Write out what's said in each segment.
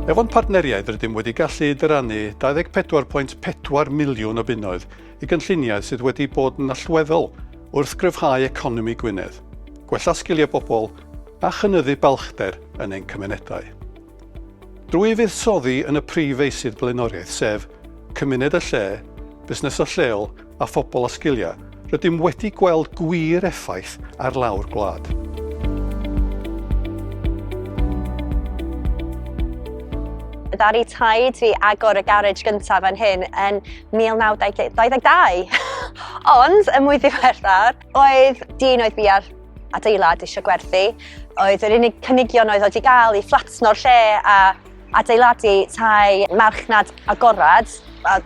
Efo'n partneriaid rydym wedi gallu dyrannu 24.4 miliwn o bunnoedd i gynlluniau sydd wedi bod yn allweddol wrth gryfhau economi Gwynedd, gwella sgiliau bobl a chynyddu balchder yn ein cymunedau. Drwy fuddsoddi yn y prif feysydd blaenoriaeth sef, cymuned a lle, busnesau lleol a phobl â sgiliau, rydym wedi gweld gwir effaith ar lawr gwlad. Ddaru taid fi agor y garej gyntaf fan hyn yn 1922 ond yn mwy ddiweddar Oedd dyn oedd bia'r adeilad eisiau gwerthu, oedd yr unig cynigion oedd oedd i gael i fflatno'r lle a adeiladu tai marchnad agorad, a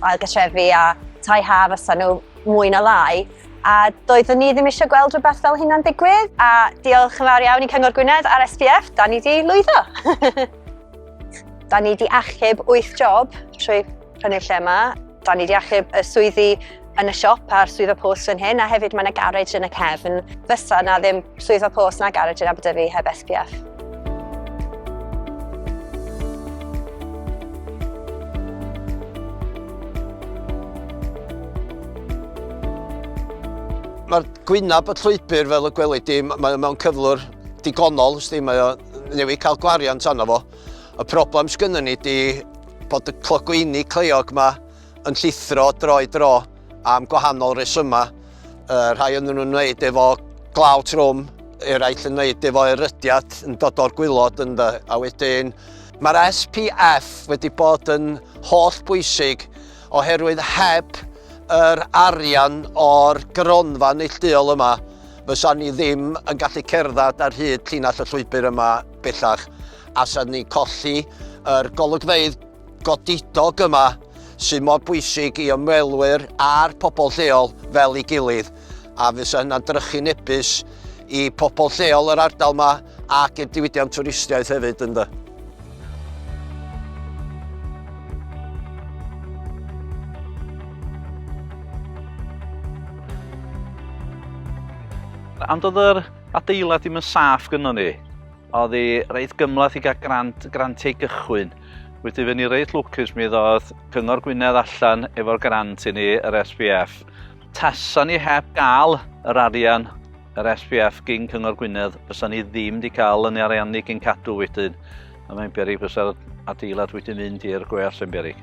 ailgatrefi a tai ha fysa nhw mwy na lai. A doeddwn ni ddim eisiau gweld rhywbeth fel hynna'n digwydd. A diolch yn fawr iawn i Cyngor Gwynedd a'r SPF, da ni di lwyddo. da ni di achub 8 job trwy yn y lle yma. Da ni wedi achub y swyddi yn y siop a'r swyddfa post fan hyn, a hefyd mae yna garej yn y cefn. Fysa na ddim swyddfa post na garej yn Aberdyfi heb SPF. Mae'r gwynab y llwybr fel y gwelid di, mae mewn cyflwr digonol, sti, mae o newydd cael gwariant arno fo. Y problem sgynny ni di Bod y clogwyni cleiog yma yn llithro droi dro am gwahanol resymau. Uh, rhai yn nhw'n wneud efo glaw trwm, eraill yn wneud efo erydiad yn dod o'r gwylod yn dda, a wedyn Mae'r SPF wedi bod yn holl bwysig oherwydd heb yr arian o'r gronfa neillduol yma fysa ni ddim yn gallu cerdded ar hyd llinell y llwybr yma bellach. allan ni colli yr golygfeydd godidog yma sydd mor bwysig i ymwelwyr a'r pobl lleol fel ei gilydd a fysa hynna'n drychu nebus i pobl lleol yr ardal yma ac i'r diwydiant twristiaeth hefyd ynddo. Ond oedd yr adeilad ddim yn saff gynnon ni. Oedd hi reit gymlath i gael grant, grantiau gychwyn. Wedi fyny reit lwcus mi ddodd Cyngor Gwynedd allan efo'r grant i ni, yr SPF. Tasa ni heb gael yr arian, yr SPF gyn Cyngor Gwynedd, fysa ni ddim wedi cael yn ariannu gyn cadw wedyn. A mae'n berig fysa'r adeilad wedi mynd i'r gweall yn berig.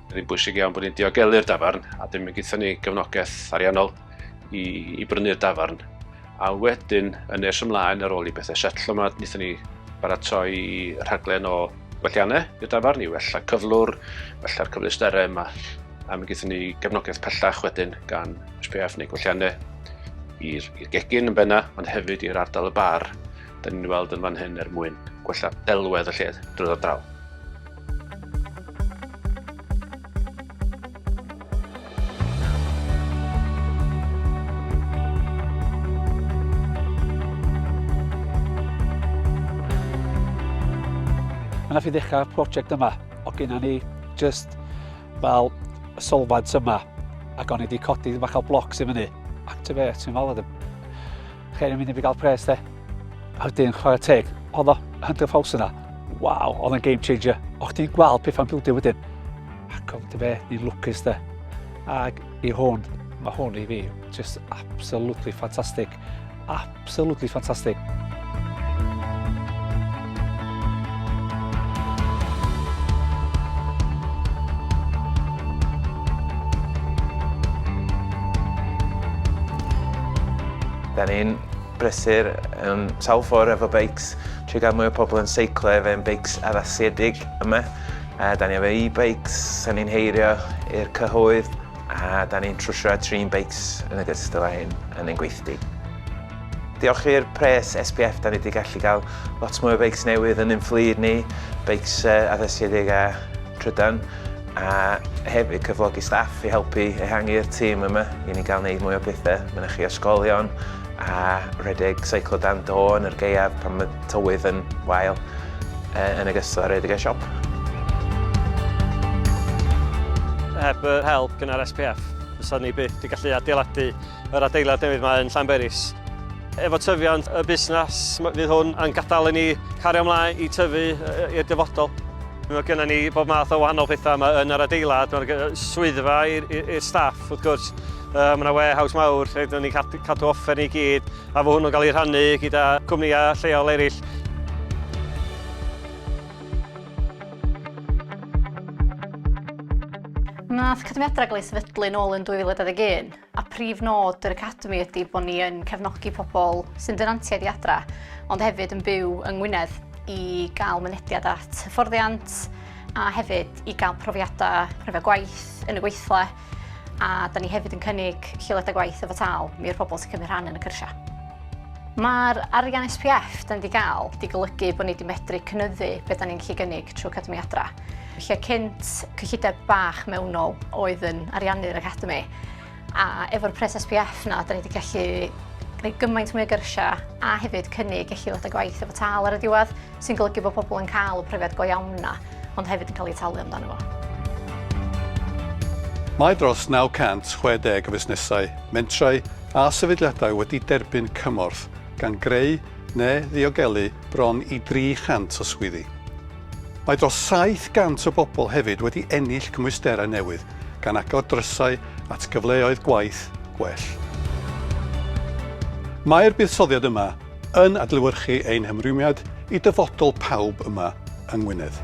Mae'n rhy bwysig iawn bod ni'n diogelu'r dafarn a dim yn gyda ni gefnogaeth ariannol i, i brynu'r dafarn. A wedyn, yn nes ymlaen ar ôl i bethau setlo yma, wnaethon ni baratoi rhaglen o gwelliannau i'r dafarn i wella cyflwr, wella'r cyfleusterau yma. A mi gyda ni gefnogaeth pellach wedyn gan SPF neu gwelliannau i'r gegin yn benna, ond hefyd i'r ardal y bar, da ni'n weld yn fan hyn er mwyn gwella delwedd y lle drwy'r ardal. Mae yna fi ddechrau prosiect yma, o gyna ni just fel y solfad yma, ac o'n i wedi codi bach o blocs i fyny. Activate, ti'n fel, Chei ddim mynd i fi gael pres de. A wedyn, chwarae teg, oedd o Hunter Falls yna. Waw, oedd yn game changer. O chdi'n gweld pethau'n bildio wedyn. Ac oedd dy fe, ni'n lwcus de. Ac i hwn, mae hwn i fi, just absolutely fantastic. Absolutely fantastic. Da ni'n brysur um, sawl ffordd efo beics, trwy gael mwy o pobl yn seiclo efo ein beics addasiedig yma. A da ni efo e-bikes, da ni'n heirio i'r cyhoedd, a da ni'n trwsio a trin beics yn y gystal â hyn yn ein gweithdy. Diolch i'r pres SPF da ni wedi gallu cael lot mwy o beics newydd yn ein fflyd ni, beics addasiedig a trydan, a hefyd cyflogi staff i helpu ehangu'r tîm yma i ni gael gwneud mwy o bethau mynychu ysgolion a rhedeg seiclo dan do yn yr gaeaf pan mae tywydd yn wael, yn ogystal â rhedeg y siop. Heb yr help gynnar SPF fysa ni byth wedi gallu adeiladu Yr adeilad newydd mae yn Llanberis. Efo tyfiant y busnes, fydd hwn yn gadael i ni cario ymlaen i tyfu i'r dyfodol. Mae gennym ni bob math o wahanol pethau yma yn yr adeilad. Mae'r swyddfa i'r staff, wrth gwrs. Mae yna warehouse mawr lle dyn ni'n cadw offer ni gyd, a fo hwnnw'n cael ei rhannu gyda cwmnïau lleol eraill. Wnaeth cyfyngiadau gael ei sefydlu nôl yn 2021. a prif nod yr Academi ydy bod ni yn cefnogi pobl sy'n dynantiaid i adra, ond hefyd yn byw yng Ngwynedd i gael mynediad at hyfforddiant a hefyd i gael profiadau rhyfedd gwaith yn y gweithle a da ni hefyd yn cynnig lleoliadau gwaith efo tal mi i'r pobl sy'n cymryd rhan yn y cyrsiau. Mae'r arian SPF da ni wedi cael wedi golygu bod ni wedi medru cynyddu beth da ni'n gallu gynnig trwy Academi Adra. lle cynt cyllideb bach mewnol oedd yn ariannu'r Academi, a efo'r pres SPF na, da ni wedi gallu gwneud gymaint mwy o gyrsiau a hefyd cynnig eich ddod â gwaith efo tal ar y diwedd, sy'n golygu bod pobl yn cael y profiad go iawn na, ond hefyd yn cael ei talu amdano fo. Mae dros 960 o fusnesau, mentrau a sefydliadau wedi derbyn cymorth, gan greu neu ddiogelu bron i 300 o swyddi. Mae dros 700 o bobl hefyd wedi ennill cymwysterau newydd, gan agor drysau at gyfleoedd gwaith gwell. Mae'r buddsoddiad yma yn adlewyrchu ein hymrwymiad i dyfodol pawb yma yng Ngwynedd.